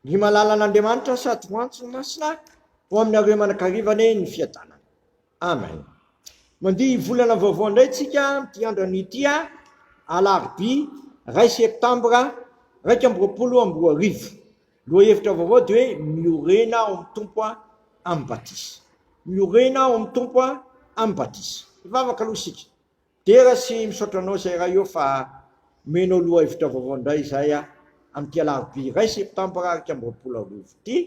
Ny malala an'Andriamanitra sady ho antso ny masina ho aminareo manakarivan ny fiadanana. Amen. Mandihy volana vaovao indray tsika amin'ity andrano ity a alarobia ray septambra raika amby roapolo amby roa arivo. Loha hevitra vaovao dia hoe miorena ao amin'ny tompo a amin'ny batisa. Miorena ao amin'ny tompo a amin'ny batisa. Hivavaka aloha isika. Dera sy misaotra anao zay ray ô fa omenao lohahevitra vaovao ndray izay a amin'ity alarobia iray septambra iraika amby roapolo sy roa arivo ity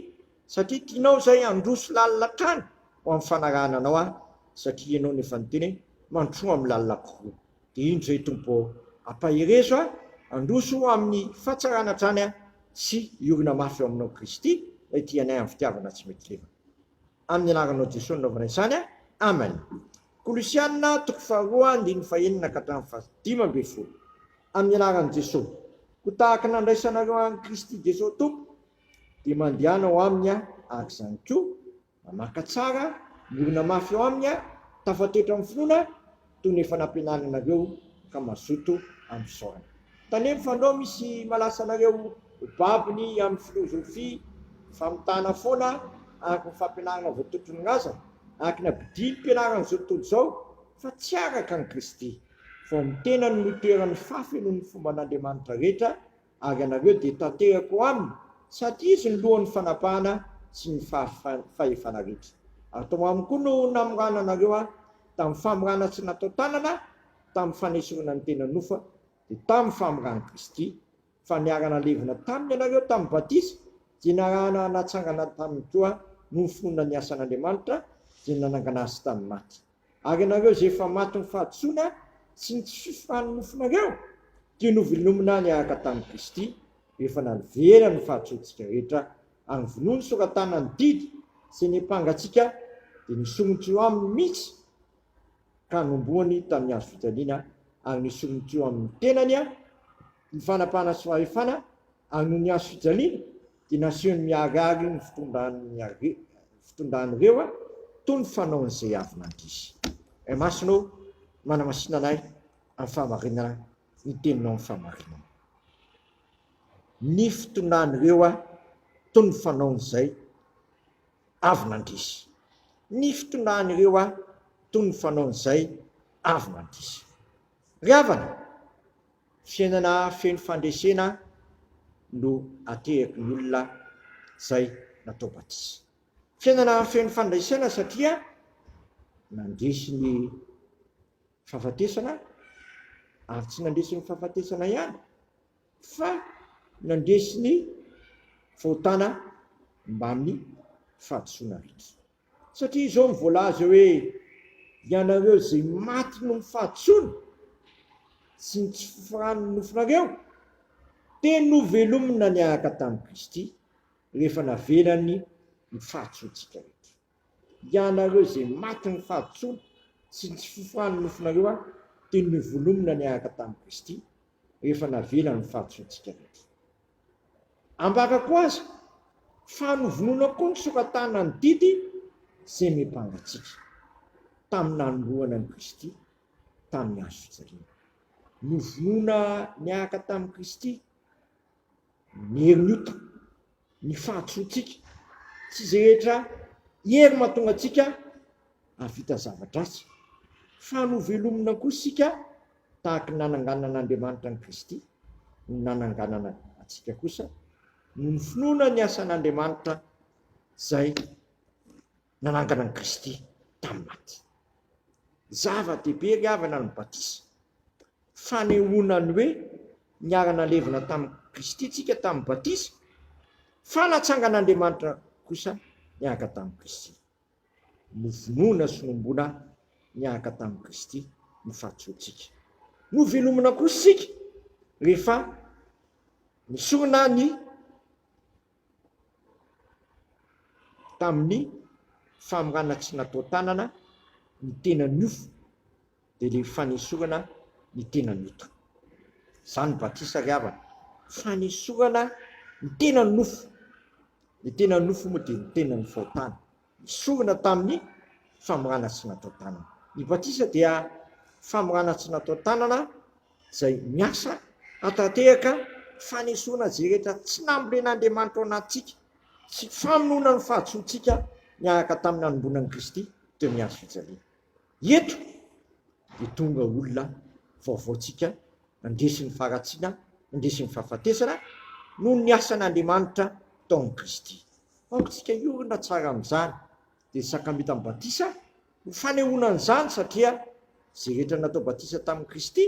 satria tianao zay handroso lalina hatrany ho amin'ny fanarahana anao aho satria ianao no efa niteny hoe mandrosoa amin'ny lalina kokoa dia indro izay Tompo ô ampaherezo ahy handroso ho amin'ny fahatsarana hatrany aho sy hiorina mafy eo aminao Kristy Ray tia anay amin'ny fitiavana tsy mety levona amin'ny anaranao Jesoa nanaovana izany aho Amen Kolosiana toko faharoa andininy fahenina ka hatramin'ny fahadimy ambin'ny folo. Amin'ny anaran'i Jesoa, koa tahaka ny nandraisanareo an'i Kristy Jesoa Tompo, dia mandehana ao Aminy aho, araka izany koa, mamaka tsara, miorina mafy ao Aminy aho, tafatoetra amin'ny finoana, toy ny efa nampianarinareo, ka mazoto amin'ny fisaorana. Taniry fa ndao misy malasa anareo ho babony amin'ny filozofia famitana foana ary ny fampianarana voatontron'ny razana araka ny abdiam-pianaran'ny zao tontolo izao fa tsy araka an'i Kristy vao ny tenany no toeran'ny fahafenoan'ny fomban'Andriamanitra rehetra ary ianareo dia tanterako aminy sady izy no lohan'ny fanapahana sy ny fahefana rehetra ary tao aminy koa no namorana anareo tamin'ny famorana tsy natao tanana tamin'ny fanesorana ny tena nofa dia tamin'ny famindrany Kristy, fa niara-nalevina taminy ianareo tamin'ny batisa, dia niarahana natsangana taminy koa noho ny finoana ny asan'Andriamanitra izay nanangana azy tamin'ny maty. Ary ianareo izay efa matin'ny fahadisoana sy ny tsy fifohan'ny nofonareo, dia novilomina niaraka tamin'i Kristy, rehefa naniverany ny fahadisoantsika rehetra, ary novonoiny sora-tanany didy izay niampanga antsika, dia nisomotra eo aminy mihitsy. ka nombohany tamin'ny hazo fijaliana ary nesoriny teo amin'ny tenany ny fanapahana sy fahefana ary noho ny hazo fijaliana dia nasehony miharihary ny fitondran'ny fitondran'ireo toy ny fanaon'izay avy nandihy. Ray Masina ô, manamasina anay amin'ny fahamarinana ny teninao amin'ny fahamarinana. Ny fitondran'ireo toy ny fanaon'izay. avy nandresy. Ny fitondran'ireo aho toy ny fanaon'izay avy nandiso. Ry havana, fiainana feno fandresena no ateraky ny olona izay natao batisa. Fiainana feno fandresena satria nandresy ny fahafatesana aho, ary tsy nandresy ny fahafatesana ihany fa nandresy ny fahotana mbamin'ny fahadisoana rehetra. Satria izao no voalaza eo hoe, Ianareo izay maty noho ny fahadisoana sy ny tsy fifoharan'ny nofonareo, dia novelomina niaraka tamin'i Kristy, rehefa navelany ny fahadisoantsika rehetra. Ianareo izay matin'ny fahadisoana sy ny tsy fiofan'ny nofonareo aho dia novolomina niaraka tamin'i Kristy rehefa navela ny fahadisoantsika rehetra. Ambarako azy fa novonoina koa ny soratana ny didy izay miampanga antsika tamin'ny nanombohana an'i Kristy tamin'ny hazofijaliana. Novonoina niaraka tamin'i Kristy. ny herin'ny ota, ny fahadisoantsika, tsy izay rehetra hery mahatonga antsika hahavita zava-dratsy, fa novelomina koa isika tahaka ny nananganan'Andriamanitra an'i Kristy, no nananganana antsika kosa, noho ny finoana ny asan'Andriamanitra izay. nanangana an'i Kristy tamin'ny maty. Zava-dehibe ry havana ny batisa. Fanehoana ny hoe niara-nalevina tamin'i Kristy isika tamin'ny batisa, fa natsangan'Andriamanitra kosa niaraka tamin'i Kristy. Novonoina sy nohomboana niaraka tamin'i Kristy ny fahatsoantsika. Novelomina kosa isika rehefa nesorina ny tamin'ny famorana tsy natao tanana ny tena niofo dia ilay fanesorana ny tena nota. Izany batisa ry havana, fanesorana ny tena nofo, ny tena nofo moa dia ny tenan'ny fahotana. Nesorina tamin'ny famorana tsy natao tanana. Ny batisa dia famorana tsy natao tanana izay miasa hahatantehaka fanesorana izay rehetra tsy nambolen'Andriamanitra ao anatintsika sy famonoana ny fahadisoantsika niaraka tamin'ny nanombonan'i Kristy teo amin'ny hazo fijaliana. Eto dia tonga olona vaovaontsika nandresy ny faharatsiana, nandresy ny fahafatesana noho ny asan'Andriamanitra tao amin'i Kristy. Aoka isika hiorina tsara amin'izany dia ny sakramentan'ny batisa ho fanehoana an'izany satria izay rehetra natao batisa tamin'i Kristy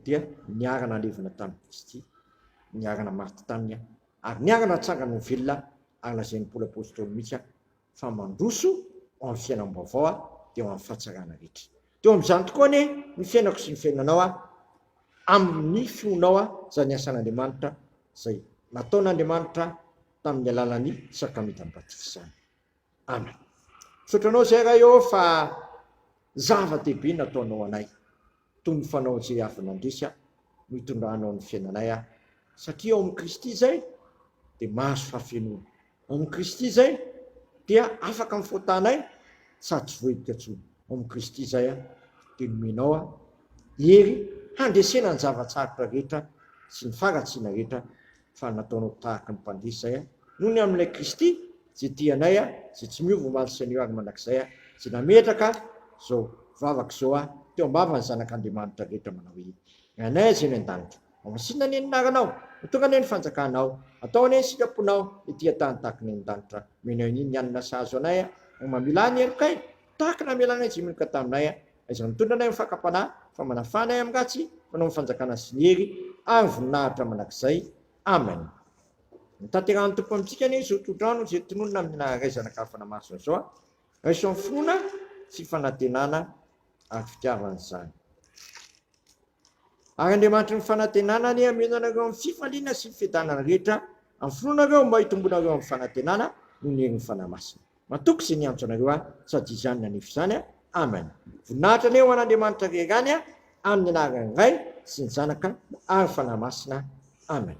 dia niara-nalevina tamin'i Kristy, niara-namaty taminy ary niara-natsangana ho velona ary lazain'i Paoly Apostoly mihitsy fa mandroso ao amin'ny fiainam-baovao aho dia ho an'ny fahatsarana rehetra. Dia eo amin'izany tokoa anie ny fiainako sy ny fiainanao a, amin'ny finoanao a, izany asan'Andriamanitra izay nataon'Andriamanitra tamin'ny alalan'ny sakramentan'ny batisa izany. Amen. Misaotra anao izay Ray ô fa zava-dehibe nataonao anay. toy ny fanao izay avy nandresy ahy no itondranao ny fiainanay aho, satria ao amin'i Kristy izay dia mahazo fahafenoana, ao amin'i Kristy izay dia afaka amin'ny fahotanay sady tsy voahilika intsony, ao amin'i Kristy izay aho dia nomenao aho hery handresena ny zava-tsarotra rehetra sy ny faharatsiana rehetra fa nataonao tahaka ny mpandihy izay nony amin'ilay Kristy izay tia anay izay tsy miova omaly sy anio ary mandrakizay izay nametraka izao vavaka izao teo am-bavan'ny zanak'Andriamanitra rehetra manao hoe, Ry Anay izay any an-danitra, homasinina anie ny anaranao, ho tonga anie ny fanjakanao, atao anie ny sitraponao ety an-tany tahaka ny any an-danitra, omeny anio ny hanina sahazo anay, raha mamela ny helokay tahaka ny namelanay izay meloka taminay, Aiza no mitondra anay amin'ny fakam-panahy, fa manafaha anay amin'ny ratsy, fanao ny fanjakana sy ny hery ary voninahitra mandrakizay. Amen. Notanterahan'ny Tompo amintsika anie izao tohodrano izay tononina amin'ny naharay zanaka hafa namasina izao. Raiso amin'ny finoana sy fanantenana ary fitiavana izany. Ary Andriamanitry ny fanantenana anie hameno anareo amin'ny fifaliana sy ny fiadanana rehetra amin'ny finoanareo mba hitomboanareo amin'ny fanantenana noho ny herin'ny Fanahy Masina. Matoky izay niantso anareo ahy sady izany nanefy izany aho. Amen. Voninahitra anie ho an'Andriamanitra rery any amin'ny anaran'ny Ray sy ny Zanaka ary ny Fanahy Masina. Amen.